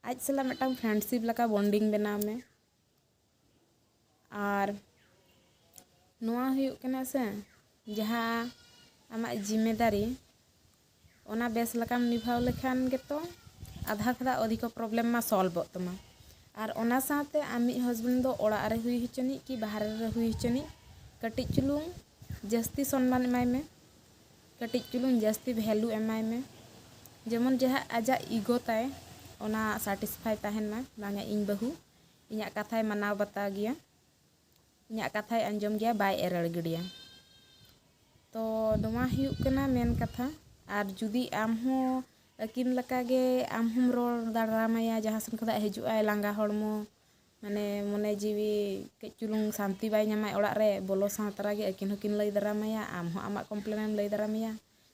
ᱟᱡ ᱥᱟᱞᱟᱜ ᱢᱤᱫᱴᱟᱝ ᱯᱷᱨᱮᱱᱰᱥᱤᱯ ᱞᱮᱠᱟ ᱵᱚᱱᱰᱤᱝ ᱵᱮᱱᱟᱣ ᱢᱮ ᱟᱨ ᱱᱚᱣᱟ ᱦᱩᱭᱩᱜ ᱠᱟᱱᱟ ᱥᱮ ᱡᱟᱦᱟᱸ ᱟᱢᱟᱜ ᱡᱤᱢᱮᱫᱟᱨᱤ ᱚᱱᱟ ᱵᱮᱥ ᱞᱮᱠᱟᱢ ᱱᱤᱵᱷᱟᱣ ᱞᱮᱠᱷᱟᱱ ᱜᱮᱛᱚ ᱟᱫᱷᱟ ᱠᱷᱚᱱᱟᱜ ᱚᱫᱷᱤᱠᱚ ᱯᱨᱚᱵᱞᱮᱢ ᱢᱟ ᱥᱚᱞᱵᱷᱚᱜ ᱛᱟᱢᱟ ᱟᱨ ᱚᱱᱟ ᱥᱟᱶᱛᱮ ᱟᱢᱤᱡ ᱦᱟᱥᱵᱮᱱᱰ ᱫᱚ ᱚᱲᱟᱜ ᱨᱮ ᱦᱩᱭ ᱦᱚᱪᱚᱱᱤᱡ ᱠᱤ ᱵᱟᱦᱨᱮ ᱨᱮ ᱦᱩᱭ ᱦᱚᱪᱚᱱᱤᱡ ᱠᱟᱹᱴᱤᱡ ᱪᱩᱞᱩᱝ ᱡᱟᱹᱥᱛᱤ ᱥᱚᱱᱢᱟᱱ ᱮᱢᱟᱭ ᱢᱮ ᱠᱟᱹᱴᱤᱡ ᱪᱩᱞᱩᱝ ᱡᱟᱹᱥᱛᱤ ᱵᱷᱮᱞᱩ ᱮᱢᱟᱭ ᱢᱮ ᱡᱮᱢᱚᱱ ᱡᱟᱦᱟᱸ ᱟᱡᱟᱜ ᱤᱜᱳ ᱛᱟᱭ ᱚᱱᱟ ᱥᱟᱴᱤᱥᱯᱷᱟᱭ ᱛᱟᱦᱮᱱ ᱢᱟ ᱵᱟᱝᱟ ᱤᱧ ᱵᱟᱹᱦᱩ ᱤᱧᱟᱹᱜ ᱠᱟᱛᱷᱟᱭ ᱢᱟᱱᱟᱣ ᱵᱟᱛᱟᱣ ᱜᱮᱭᱟ ᱤᱧᱟᱹᱜ ᱠᱟᱛᱷᱟᱭ ᱟᱸᱡᱚᱢ ᱜᱮᱭᱟ ᱵᱟᱭ ᱮᱨᱮᱲ ᱜᱤᱰᱤᱭᱟ ᱛᱚ ᱱᱚᱣᱟ ᱦᱩᱭᱩᱜ ᱠᱟᱱᱟ ᱢᱮᱱ ᱠᱟᱛᱷᱟ ᱟᱨ ᱡᱩᱫᱤ ᱟᱢ ᱦᱚᱸ ᱟᱹᱠᱤᱱ ᱞᱮᱠᱟᱜᱮ ᱟᱢ ᱦᱚᱸᱢ ᱨᱚᱲ ᱫᱟᱲᱟᱢᱟᱭᱟ ᱡᱟᱦᱟᱸ ᱥᱮᱱ ᱠᱷᱚᱱᱟᱜ ᱦᱤᱡᱩᱜ ᱟᱭ ᱞᱟᱸᱜᱟ ᱦᱚᱲᱢᱚ ᱢᱟᱱᱮ ᱢᱚᱱᱮ ᱡᱤᱣᱤ ᱠᱟᱹᱡ ᱪᱩᱞᱩᱝ ᱥᱟᱱᱛᱤ ᱵᱟᱭ ᱧᱟᱢᱟ ᱚᱲᱟᱜ ᱨᱮ ᱵᱚᱞᱚ ᱥᱟᱶ ᱛᱚᱨᱟ ᱜᱮ ᱟᱹᱠᱤᱱ ᱦᱚᱸᱠᱤᱱ ᱞᱟᱹᱭ ᱫᱟᱨᱟᱢᱟᱭᱟ ᱟᱢ ᱦᱚᱸ ᱟᱢᱟᱜ ᱠᱚᱢᱯᱞᱮᱱ ᱮᱢ ᱞᱟᱹᱭ ᱫᱟᱨᱟᱢᱟᱭᱟ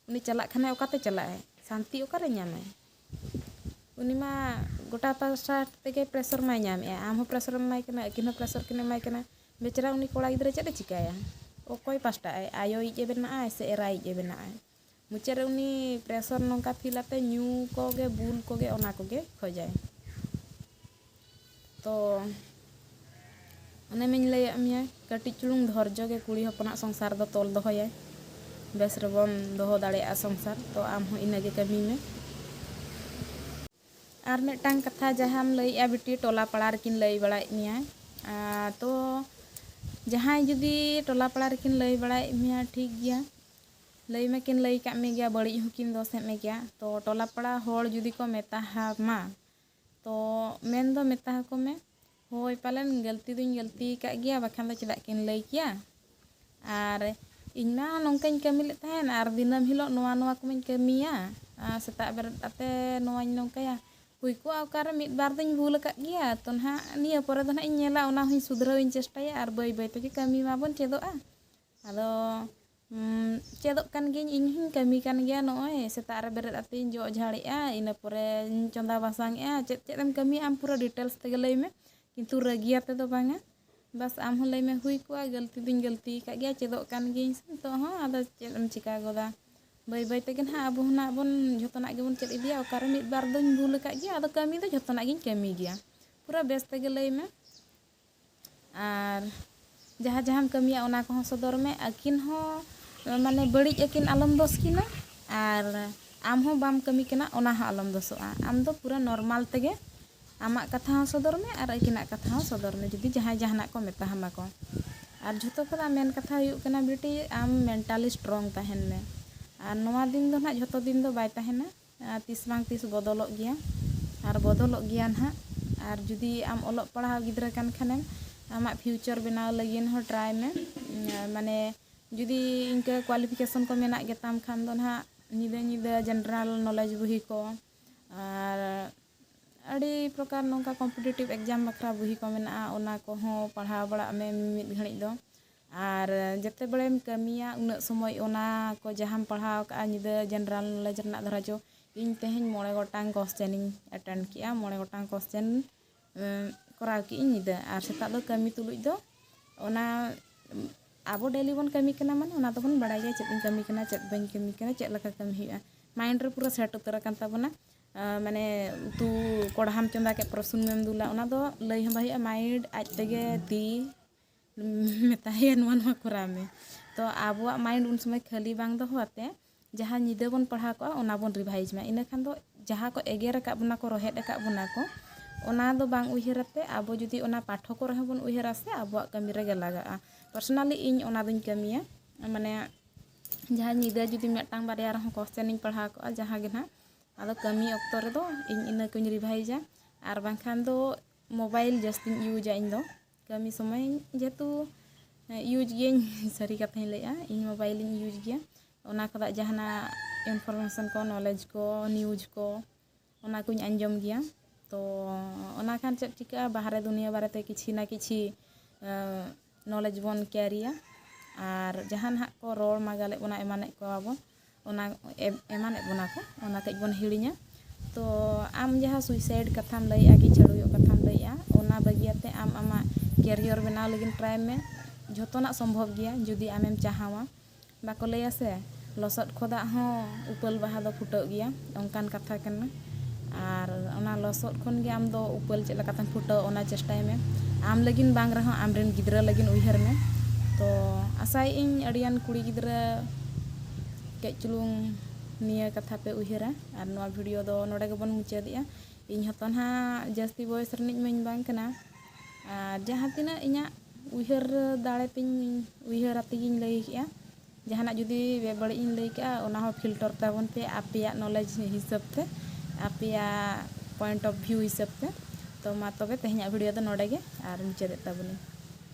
ᱩᱱᱤ ᱪᱟᱞᱟᱜ ᱠᱷᱟᱱᱮ ᱚᱠᱟᱛᱮ ᱪᱟᱞᱟᱜ ᱟᱭ ᱥᱟᱱᱛᱤ ᱚᱠᱟᱨᱮ ᱧᱟᱢᱟᱭ ᱩᱱᱤ ᱢᱟ ᱜᱚᱴᱟ ᱯᱟᱥᱴᱟ ᱛᱮᱜᱮ ᱯᱨᱮᱥᱟᱨ ᱢᱟᱭ ᱧᱟᱢᱮᱜᱼᱟ ᱟᱢ ᱦᱚᱸ ᱯᱨᱮᱥᱟᱨ ᱮᱢ ᱮᱢᱟᱭ ᱠᱟᱱᱟ ᱟᱹᱠᱤᱱ ᱦᱚᱸ ᱯᱨᱮᱥᱟᱨ ᱠᱤᱱ ᱮᱢᱟᱭ ᱠᱟᱱᱟ ᱵᱮᱪᱟᱨᱟ ᱩᱱᱤ ᱠᱚᱲᱟ ᱜᱤᱫᱽᱨᱟᱹ ᱪᱮᱫ ᱮ ᱪᱤᱠᱟᱹᱭᱟ ᱚᱠᱚᱭ ᱯᱟᱥᱴᱟᱜ ᱟᱭ ᱟᱭᱳᱭᱤᱡ ᱮ ᱵᱮᱱᱟᱜ ᱟᱭ ᱥᱮ ᱮᱨᱟᱭᱤᱡ ᱮ ᱵᱮᱱᱟᱜ ᱟᱭ ᱢᱩᱪᱟᱹᱫ ᱨᱮ ᱩᱱᱤ ᱯᱨᱮᱥᱚᱨ ᱱᱚᱝᱠᱟ ᱯᱷᱤᱞ ᱟᱛᱮ ᱧᱩ ᱠᱚᱜᱮ ᱵᱩᱞ ᱠᱚᱜᱮ ᱚᱱᱟ ᱠᱚᱜᱮ ᱠᱷᱚᱡᱟᱭ ᱛᱚ ᱚᱱᱮ ᱢᱤᱧ ᱞᱟᱹᱭᱟᱫ ᱢᱮᱭᱟ ᱠᱟᱹᱴᱤᱡ ᱪᱩᱞᱩᱝ ᱫᱷᱚᱨᱡᱚ ᱜᱮ ᱠᱩᱲᱤ ᱦᱚᱯᱚᱱᱟᱜ ᱥᱚᱝᱥᱟᱨ ᱫᱚ ᱛᱚᱞ ᱫᱚᱦᱚᱭᱟᱭ ᱵᱮᱥ ᱨᱮᱵᱚᱱ ᱫᱚᱦᱚ ᱫᱟᱲᱮᱭᱟᱜᱼᱟ ᱥᱚᱝᱥᱟᱨ ᱛᱚ ᱟᱢ ᱦᱚᱸ ᱤᱱᱟᱹᱜᱮ ᱠᱟᱹᱢᱤ ᱢᱮ ᱟᱨ ᱢᱤᱫᱴᱟᱝ ᱠᱟᱛᱷᱟ ᱡᱟᱦᱟᱸᱢ ᱞᱟᱹᱭᱮᱜᱼᱟ ᱵᱤᱴᱤ ᱴᱚᱞᱟ ᱯᱟᱲᱟ ᱨᱮᱠᱤᱱ ᱞᱟᱹᱭ ᱵᱟᱲᱟᱭᱮᱫ ᱢᱮᱭᱟ ᱛᱚ ᱡᱟᱦᱟᱸᱭ ᱡᱩᱫᱤ ᱴᱚᱞᱟ ᱯᱟᱲᱟ ᱨᱮᱠᱤᱱ ᱞᱟᱹᱭ ᱵᱟᱲᱟᱭᱮᱫ ᱢᱮᱭᱟ ᱴᱷᱤᱠ ᱜᱮᱭᱟ ᱞᱟᱹᱭ ᱢᱟᱠᱤᱱ ᱞᱟᱹᱭ ᱠᱟᱜ ᱢᱮᱜᱮᱭᱟ ᱵᱟᱹᱲᱤᱡ ᱦᱚᱸᱠᱤᱱ ᱫᱚᱥᱮᱫ ᱢᱮᱜᱮᱭᱟ ᱛᱚ ᱴᱚᱞᱟ ᱯᱟᱲᱟ ᱦᱚᱲ ᱡᱩᱫᱤ ᱠᱚ ᱢᱮᱛᱟ ᱦᱟᱢᱟ ᱛᱚ ᱢᱮᱱ ᱫᱚ ᱢᱮᱛᱟ ᱦᱟᱠᱚ ᱢᱮ ᱦᱳᱭ ᱯᱟᱞᱮᱱ ᱜᱟᱹᱞᱛᱤ ᱫᱩᱧ ᱜᱟᱹᱞᱛᱤ ᱠᱟᱜ ᱜᱮᱭᱟ ᱵᱟᱠᱷᱟᱱ ᱫᱚ ᱪᱮᱫᱟᱜ ᱠᱤᱱ ᱞᱟᱹᱭ ᱠᱮᱭᱟ ᱟᱨ ᱤᱧ ᱢᱟ ᱱᱚᱝᱠᱟᱧ ᱠᱟᱹᱢᱤ ᱞᱮᱫ ᱛᱟᱦᱮᱱ ᱟᱨ ᱫᱤᱱᱟᱹᱢ ᱦᱤᱞᱳᱜ ᱱᱚᱣᱟ ᱱᱚᱣᱟ ᱠᱚᱢᱟᱧ ᱠᱟᱹᱢᱤᱭᱟ ᱟᱨ ᱥᱮᱛᱟᱜ ᱵᱮᱨᱮᱫ ᱠᱟᱛᱮ ᱱᱚᱣᱟᱧ ᱱᱚᱝᱠᱟᱭᱟ ᱦᱩᱭ ᱠᱚᱜᱼᱟ ᱚᱠᱟᱨᱮ ᱢᱤᱫ ᱵᱟᱨ ᱫᱩᱧ ᱵᱷᱩᱞ ᱟᱠᱟᱫ ᱜᱮᱭᱟ ᱛᱚ ᱱᱟᱦᱟᱜ ᱱᱤᱭᱟᱹ ᱯᱚᱨᱮ ᱫᱚ ᱱᱟᱦᱟᱜ ᱤᱧ ᱧᱮᱞᱟ ᱚᱱᱟ ᱦᱚᱸᱧ ᱥᱩᱫᱷᱨᱟᱹᱣ ᱤᱧ ᱪᱮᱥᱴᱟᱭᱟ ᱟᱨ ᱵᱟᱹᱭ ᱵᱟᱹᱭ ᱛᱮᱜᱮ ᱠᱟᱹᱢᱤ ᱢᱟᱵᱚᱱ ᱪᱮᱫᱚᱜᱼᱟ ᱟᱫᱚ ᱪᱮᱫᱚᱜ ᱠᱟᱱ ᱜᱤᱭᱟᱹᱧ ᱤᱧ ᱦᱚᱸᱧ ᱠᱟᱹᱢᱤ ᱠᱟᱱ ᱜᱮᱭᱟ ᱱᱚᱜᱼᱚᱭ ᱥᱮᱛᱟᱜ ᱨᱮ ᱵᱮᱨᱮᱫ ᱠᱟᱛᱮᱫ ᱤᱧ ᱡᱚᱜ ᱡᱷᱟᱲᱮᱜᱼᱟ ᱤᱱᱟᱹ ᱯᱚᱨᱮᱧ ᱪᱚᱸᱫᱟ ᱵᱟᱥᱟᱝ ᱮᱫᱟ ᱪᱮᱫ ᱪᱮᱫ ᱮᱢ ᱠᱟᱹᱢᱤᱭᱟ ᱟᱢ ᱯᱩᱨᱟᱹ ᱰᱤᱴᱮᱞᱥ ᱛᱮᱜᱮ ᱞᱟᱹᱭ ᱢᱮ ᱠᱤᱱᱛᱩ ᱨᱟᱹᱜᱤ ᱟᱛᱮᱫ ᱫᱚ ᱵᱟᱝᱟ ᱵᱟᱥ ᱟᱢ ᱦᱚᱸ ᱞᱟᱹᱭ ᱢᱮ ᱦᱩᱭ ᱠᱚᱜᱼᱟ ᱜᱟᱹᱞᱛᱤ ᱫᱚᱧ ᱜᱟᱹᱞᱛᱤ ᱟᱠᱟᱫ ᱜᱮᱭᱟ ᱪᱮᱫᱚᱜ ᱠᱟᱱ ᱜᱤᱭᱟᱹᱧ ᱥᱮ ᱱᱤᱛᱚᱜ ᱦᱚᱸ ᱟᱫᱚ ᱪᱮᱫ ᱮᱢ ᱪᱤᱠᱟᱹ ᱜᱚᱫᱟ ᱵᱟᱹᱭ ᱵᱟᱹᱭ ᱛᱮᱜᱮ ᱱᱟᱦᱟᱜ ᱟᱵᱚ ᱦᱚᱸ ᱱᱟᱦᱟᱜ ᱵᱚᱱ ᱡᱚᱛᱚᱱᱟᱜ ᱜᱮᱵᱚᱱ ᱪᱮᱫ ᱤᱫᱤᱭᱟ ᱚᱠᱟᱨᱮ ᱢᱤᱫ ᱵᱟᱨ ᱫᱚᱧ ᱵᱷᱩᱞ ᱟᱠᱟᱫ ᱜᱮᱭᱟ ᱟᱫᱚ ᱠᱟᱹᱢᱤ ᱫᱚ ᱡᱚᱛᱚᱱᱟᱜ ᱜᱤᱧ ᱠᱟᱹᱢᱤ ᱜᱮᱭᱟ ᱯᱩᱨᱟᱹ ᱵᱮᱥ ᱛᱮᱜᱮ ᱞᱟᱹᱭ ᱢᱮ ᱟᱨ ᱡᱟᱦᱟᱸ ᱡᱟᱦᱟᱸᱢ ᱠᱟᱹᱢᱤᱭᱟ ᱚᱱᱟ ᱠᱚᱦᱚᱸ ᱥᱚᱫᱚᱨ ᱢᱮ ᱟᱹᱠᱤᱱ ᱦᱚᱸ ᱢᱟᱱᱮ ᱵᱟᱹᱲᱤᱡ ᱟᱹᱠᱤᱱ ᱟᱞᱚᱢ ᱫᱚᱥ ᱠᱤᱱᱟ ᱟᱨ ᱟᱢ ᱦᱚᱸ ᱵᱟᱢ ᱠᱟᱹᱢᱤ ᱠᱟᱱᱟ ᱚᱱᱟ ᱦᱚᱸ ᱟᱞᱚᱢ ᱫᱚᱥᱚᱜᱼᱟ ᱟᱢ ᱫᱚ ᱯᱩᱨᱟᱹ ᱱᱚᱨᱢᱟᱞ ᱛᱮᱜᱮ ᱟᱢᱟᱜ ᱠᱟᱛᱷᱟ ᱦᱚᱸ ᱥᱚᱫᱚᱨ ᱢᱮ ᱟᱨ ᱟᱹᱠᱤᱱᱟᱜ ᱠᱟᱛᱷᱟ ᱦᱚᱸ ᱥᱚᱫᱚᱨ ᱢᱮ ᱡᱩᱫᱤ ᱡᱟᱦᱟᱸᱭ ᱡᱟᱦᱟᱱᱟᱜ ᱠᱚ ᱢᱮᱛᱟ ᱦᱟᱢᱟ ᱠᱚ ᱟᱨ ᱡᱷᱚᱛᱚ ᱠᱷᱚᱱᱟᱜ ᱢᱮᱱ ᱠᱟᱛᱷᱟ ᱦᱩᱭᱩᱜ ᱠᱟᱱᱟ ᱵᱤᱴᱤ ᱟᱢ ᱢᱮᱱᱴᱟᱞᱤ ᱥᱴᱨᱚᱝ ᱛᱟᱦᱮᱱ ᱢᱮ ᱟᱨ ᱱᱚᱣᱟ ᱫᱤᱱ ᱫᱚ ᱱᱟᱦᱟᱜ ᱡᱷᱚᱛᱚ ᱫᱤᱱ ᱫᱚ ᱵᱟᱭ ᱛᱟᱦᱮᱱᱟ ᱟᱨ ᱛᱤᱥ ᱵᱟᱝ ᱛᱤᱥ ᱵᱚᱫᱚᱞᱚᱜ ᱜᱮᱭᱟ ᱟᱨ ᱵᱚᱫᱚᱞᱚᱜ ᱜᱮᱭᱟ ᱱᱟᱦᱟᱜ ᱟᱨ ᱡᱩᱫᱤ ᱟᱢ ᱚᱞᱚᱜ ᱯᱟᱲᱦᱟᱣ ᱜᱤᱫᱽᱨᱟᱹ ᱠᱟᱱ ᱠᱷᱟᱱᱮᱢ ᱟᱢᱟᱜ ᱯᱷᱤᱭᱩᱪᱚᱨ ᱵᱮᱱᱟᱣ ᱞᱟᱹᱜᱤᱫ ᱦᱚᱸ ᱴᱨᱟᱭ ᱢᱮ ᱢᱟᱱᱮ ᱡᱩᱫᱤ ᱤᱱᱠᱟᱹ ᱠᱚᱣᱟᱞᱤᱯᱷᱤᱠᱮᱥᱚᱱ ᱠᱚ ᱢᱮᱱᱟᱜ ᱜᱮᱛᱟᱢ ᱠᱷᱟᱱ ᱫᱚ ᱱᱟᱦᱟᱜ ᱧᱤᱫᱟᱹ ᱧᱤᱫᱟᱹ ᱡᱮᱱᱟᱨᱮᱞ ᱱᱚᱞᱮᱡᱽ ᱵᱚᱦᱤ ᱠᱚ ᱟᱨ ᱟᱹᱰᱤ ᱯᱨᱚᱠᱟᱨ ᱱᱚᱝᱠᱟ ᱠᱚᱢᱯᱤᱴᱤᱴᱤᱵᱷ ᱮᱠᱡᱟᱢ ᱵᱟᱠᱷᱨᱟ ᱵᱚᱦᱤ ᱠᱚ ᱢᱮᱱᱟᱜᱼᱟ ᱚᱱᱟ ᱠᱚᱦᱚᱸ ᱯᱟᱲᱦᱟᱣ ᱵᱟᱲᱟᱜ ᱢᱮ ᱢᱤᱢᱤᱫ ᱜᱷᱟᱹᱲᱤᱡ ᱫᱚ ᱟᱨ ᱡᱮᱛᱮ ᱵᱟᱲᱮᱢ ᱠᱟᱹᱢᱤᱭᱟ ᱩᱱᱟᱹᱜ ᱥᱚᱢᱚᱭ ᱚᱱᱟ ᱠᱚ ᱡᱟᱦᱟᱸᱢ ᱯᱟᱲᱦᱟᱣ ᱠᱟᱜᱼᱟ ᱧᱤᱫᱟᱹ ᱡᱮᱱᱟᱨᱮᱞ ᱱᱚᱞᱮᱡᱽ ᱨᱮᱱᱟᱜ ᱫᱷᱚᱨᱚ ᱡᱚ ᱤᱧ ᱛᱮᱦᱮᱧ ᱢᱚᱬᱮ ᱜᱚᱴᱟᱝ ᱠᱚᱥᱪᱮᱱ ᱤᱧ ᱮᱴᱮᱱᱰ ᱠᱮᱜᱼᱟ ᱢᱚᱬᱮ ᱜᱚᱴᱟᱝ ᱠᱚᱥᱪᱮᱱ ᱠᱚᱨᱟᱣ ᱠᱮᱜ ᱤᱧ ᱧᱤᱫᱟᱹ ᱟᱨ ᱥᱮᱛᱟᱜ ᱫᱚ ᱠᱟᱹᱢᱤ ᱛᱩᱞᱩᱡ ᱫᱚ ᱚᱱᱟ ᱟᱵᱚ ᱰᱮᱞᱤ ᱵᱚᱱ ᱠᱟᱹᱢᱤ ᱠᱟᱱᱟ ᱢᱟᱱᱮ ᱚᱱᱟ ᱫᱚᱵᱚᱱ ᱵᱟᱲᱟᱭ ᱜᱮᱭᱟ ᱪᱮᱫ ᱤᱧ ᱠᱟᱹᱢᱤ ᱠᱟᱱᱟ ᱪᱮᱫ ᱵᱟᱹᱧ ᱠᱟᱹᱢᱤ ᱠᱟᱱᱟ ᱪᱮᱫ ᱞᱮᱠᱟ ᱠᱟᱹᱢᱤ ᱦᱩᱭᱩᱜᱼᱟ ᱢᱟᱭᱤᱱᱰ ᱨᱮ ᱯᱩᱨᱟᱹ ᱥᱮᱴ ᱩᱛᱟᱹᱨ ᱟᱠᱟᱱ ᱛᱟᱵᱚᱱᱟ ᱢᱟᱱᱮ ᱩᱛᱩ ᱠᱚᱲᱦᱟᱢ ᱪᱚᱸᱫᱟ ᱠᱮᱜ ᱯᱩᱨᱟᱹ ᱥᱩᱱᱩᱢᱮᱢ ᱫᱩᱞᱟ ᱚᱱᱟ ᱫᱚ ᱞᱟᱹᱭ ᱦᱚᱸ ᱵᱟᱭ ᱦᱩᱭᱩᱜᱼᱟ ᱢᱟᱭᱤᱱᱰ ᱟᱡ ᱛᱮᱜᱮ ᱛᱤ ᱢᱮᱛᱟᱭᱟ ᱱᱚᱣᱟ ᱱᱚᱣᱟ ᱠᱚᱨᱟᱣ ᱢᱮ ᱛᱚ ᱟᱵᱚᱣᱟᱜ ᱢᱟᱭᱤᱱᱰ ᱩᱱ ᱥᱚᱢᱚᱭ ᱠᱷᱟᱹᱞᱤ ᱵᱟᱝ ᱫᱚᱦᱚ ᱟᱛᱮ ᱡᱟᱦᱟᱸ ᱧᱤᱫᱟᱹ ᱵᱚᱱ ᱯᱟᱲᱦᱟᱣ ᱠᱚᱜᱼᱟ ᱚᱱᱟ ᱵᱚᱱ ᱨᱤᱵᱷᱟᱭᱤᱡᱽ ᱢᱟ ᱤᱱᱟᱹ ᱠᱷᱟᱱ ᱫᱚ ᱡᱟᱦᱟᱸ ᱠᱚ ᱮᱜᱮᱨ ᱟᱠᱟᱫ ᱵᱚᱱᱟ ᱠᱚ ᱨᱚᱦᱮᱫ ᱟᱠᱟᱫ ᱵᱚᱱᱟ ᱠᱚ ᱚᱱᱟ ᱫᱚ ᱵᱟᱝ ᱩᱭᱦᱟᱹᱨ ᱟᱛᱮ ᱟᱵᱚ ᱡᱩᱫᱤ ᱚᱱᱟ ᱯᱟᱴᱷᱚ ᱠᱚᱨᱮ ᱦᱚᱸ ᱵᱚᱱ ᱩᱭᱦᱟᱹᱨᱟ ᱥᱮ ᱟᱵᱚᱣᱟᱜ ᱠᱟᱹᱢᱤ ᱨᱮᱜᱮ ᱞᱟᱜᱟᱜᱼᱟ ᱯᱟᱨᱥᱚᱱᱟᱞᱤ ᱤᱧ ᱚᱱᱟ ᱫᱚᱧ ᱠᱟᱹᱢᱤᱭᱟ ᱢᱟᱱᱮ ᱡᱟᱦᱟᱸ ᱧᱤᱫᱟᱹ ᱡᱩᱫᱤ ᱢᱤᱫᱴᱟᱝ ᱵᱟᱨᱭᱟ ᱨᱮᱦᱚᱸ ᱠᱚᱥᱪᱟᱱ ᱤᱧ ᱯᱟᱲᱦᱟᱣ ᱠᱚᱜᱼᱟ ᱡᱟᱦᱟᱸ ᱜᱮ ᱱᱟᱦᱟᱜ ᱟᱫᱚ ᱠᱟᱹᱢᱤ ᱚᱠᱛᱚ ᱨᱮᱫᱚ ᱤᱧ ᱤᱱᱟᱹ ᱠᱚᱧ ᱨᱤᱵᱷᱟᱭᱤᱡᱟ ᱟᱨ ᱵᱟᱝᱠᱷᱟᱱ ᱫᱚ ᱢᱳᱵᱟᱭᱤᱞ ᱡᱟᱹᱥᱛᱤᱧ ᱤᱭᱩᱡᱟ ᱤᱧ ᱫᱚ ᱠᱟᱹᱢᱤ ᱥᱚᱢᱚᱭ ᱡᱮᱦᱮᱛᱩ ᱤᱭᱩᱡᱽ ᱜᱤᱭᱟᱹᱧ ᱥᱟᱹᱨᱤ ᱠᱟᱛᱷᱟᱧ ᱞᱟᱹᱭᱮᱫᱼᱟ ᱤᱧ ᱢᱳᱵᱟᱭᱤᱞᱤᱧ ᱤᱭᱩᱡᱽ ᱜᱮᱭᱟ ᱚᱱᱟ ᱠᱷᱚᱱᱟᱜ ᱡᱟᱦᱟᱱᱟᱜ ᱤᱱᱯᱷᱚᱨᱢᱮᱥᱚᱱ ᱠᱚ ᱱᱚᱞᱮᱡᱽ ᱠᱚ ᱱᱤᱭᱩᱡᱽ ᱠᱚ ᱚᱱᱟ ᱠᱚᱧ ᱟᱸᱡᱚᱢ ᱜᱮᱭᱟ ᱛᱚ ᱚᱱᱟ ᱠᱷᱟᱱ ᱪᱮᱫ ᱪᱤᱠᱟᱹᱜᱼᱟ ᱵᱟᱦᱨᱮ ᱫᱩᱱᱤᱭᱟᱹ ᱵᱟᱨᱮᱛᱮ ᱠᱤᱪᱷᱩ ᱱᱟ ᱠᱤᱪᱷᱩ ᱱᱚᱞᱮᱡᱽ ᱵᱚᱱ ᱠᱮᱨᱤᱭᱟ ᱟᱨ ᱡᱟᱦᱟᱸ ᱱᱟᱦᱟᱜ ᱠᱚ ᱨᱚᱲ ᱢᱟᱜᱟᱞᱮᱫ ᱵᱚᱱᱟ ᱮᱢᱟᱱᱮᱫ ᱠᱚᱣᱟ ᱵᱚᱱ ᱚᱱᱟ ᱮᱢᱟᱱᱮᱫ ᱵᱚᱱᱟ ᱠᱚ ᱚᱱᱟ ᱠᱟᱹᱡ ᱵᱚᱱ ᱦᱤᱲᱤᱧᱟ ᱛᱚ ᱟᱢ ᱡᱟᱦᱟᱸ ᱥᱩᱭᱥᱟᱭᱤᱰ ᱠᱟᱛᱷᱟᱢ ᱞᱟᱹᱭᱮᱜᱼᱟ ᱠᱤ ᱪᱷᱟᱹᱲᱣᱤᱭᱟᱜ ᱠᱟᱛᱷᱟᱢ ᱞᱟᱹᱭᱮᱜᱼᱟ ᱚᱱᱟ ᱵᱟᱹᱜᱤᱭᱟᱛᱮ ᱟᱢ ᱟᱢᱟᱜ ᱠᱮᱨᱤᱭᱚᱨ ᱵᱮᱱᱟᱣ ᱞᱟᱹᱜᱤᱫ ᱴᱨᱟᱭ ᱢᱮ ᱡᱷᱚᱛᱚᱱᱟᱜ ᱥᱚᱢᱵᱷᱚᱵ ᱜᱮᱭᱟ ᱡᱩᱫᱤ ᱟᱢᱮᱢ ᱪᱟᱦᱟᱣᱟ ᱵᱟᱠᱚ ᱞᱟᱹᱭᱟ ᱥᱮ ᱞᱚᱥᱚᱫ ᱠᱷᱚᱫᱟᱜ ᱦᱚᱸ ᱩᱯᱟᱹᱞ ᱵᱟᱦᱟ ᱫᱚ ᱯᱷᱩᱴᱟᱹᱜ ᱜᱮᱭᱟ ᱚᱱᱠᱟᱱ ᱠᱟᱛᱷᱟ ᱠᱟᱱᱟ ᱟᱨ ᱚᱱᱟ ᱞᱚᱥᱚᱫ ᱠᱷᱚᱱ ᱜᱮ ᱟᱢ ᱫᱚ ᱩᱯᱟᱹᱞ ᱪᱮᱫ ᱞᱮᱠᱟᱛᱮᱢ ᱯᱷᱩᱴᱟᱹᱣ ᱚᱱᱟ ᱪᱮᱥᱴᱟᱭ ᱢᱮ ᱟᱢ ᱞᱟᱹᱜᱤᱫ ᱵᱟᱝ ᱨᱮᱦᱚᱸ ᱟᱢ ᱨᱮᱱ ᱜᱤᱫᱽᱨᱟᱹ ᱞᱟᱹᱜᱤᱫ ᱩᱭᱦᱟᱹᱨ ᱢᱮ ᱛᱚ ᱟᱥᱟᱭᱮᱫ ᱟᱹᱧ ᱟᱹᱰᱤ ᱜᱟᱱ ᱠᱩᱲᱤ ᱜᱤᱫᱽᱨᱟᱹ ᱠᱟᱹᱡ ᱪᱩᱞᱩᱝ ᱱᱤᱭᱟᱹ ᱠᱟᱛᱷᱟ ᱯᱮ ᱩᱭᱦᱟᱹᱨᱟ ᱟᱨ ᱱᱚᱣᱟ ᱵᱷᱤᱰᱤᱭᱳ ᱫᱚ ᱱᱚᱰᱮ ᱜᱮᱵᱚᱱ ᱢᱩᱪᱟᱹᱫᱮᱜᱼᱟ ᱤᱧ ᱦᱚᱸᱛᱚ ᱱᱟᱦᱟᱜ ᱡᱟᱹᱥᱛᱤ ᱵᱚᱭᱮᱥ ᱨᱤᱱᱤᱡ ᱢᱟᱹᱧ ᱵᱟᱝ ᱠᱟᱱᱟ ᱟᱨ ᱡᱟᱦᱟᱸ ᱛᱤᱱᱟᱹᱜ ᱤᱧᱟᱹᱜ ᱩᱭᱦᱟᱹᱨ ᱫᱟᱲᱮ ᱛᱤᱧ ᱩᱭᱦᱟᱹᱨ ᱟᱛᱮᱜᱤᱧ ᱞᱟᱹᱭ ᱠᱮᱜᱼᱟ ᱡᱟᱦᱟᱱᱟᱜ ᱡᱩᱫᱤ ᱵᱮᱵᱟᱹᱲᱤᱡ ᱤᱧ ᱞᱟᱹᱭ ᱠᱟᱜᱼᱟ ᱚᱱᱟ ᱦᱚᱸ ᱯᱷᱤᱞᱴᱚᱨ ᱛᱟᱵᱚᱱ ᱯᱮ ᱟᱯᱮᱭᱟᱜ ᱱᱚᱞᱮᱡᱽ ᱦᱤᱥᱟᱹᱵ ᱛᱮ ᱟᱯᱮᱭᱟᱜ ᱯᱚᱭᱮᱱᱴ ᱚᱯᱷ ᱵᱷᱤᱭᱩ ᱦᱤᱥᱟᱹᱵ ᱛᱮ ᱛᱚ ᱢᱟ ᱛᱚᱵᱮ ᱛᱮᱦᱮᱧᱟᱜ ᱵᱷᱤᱰᱤᱭᱳ ᱫᱚ ᱱᱚᱰᱮ ᱜᱮ ᱟᱨ ᱢᱩᱪᱟᱹᱫᱮᱜ ᱛᱟᱵᱚᱱᱟᱹᱧ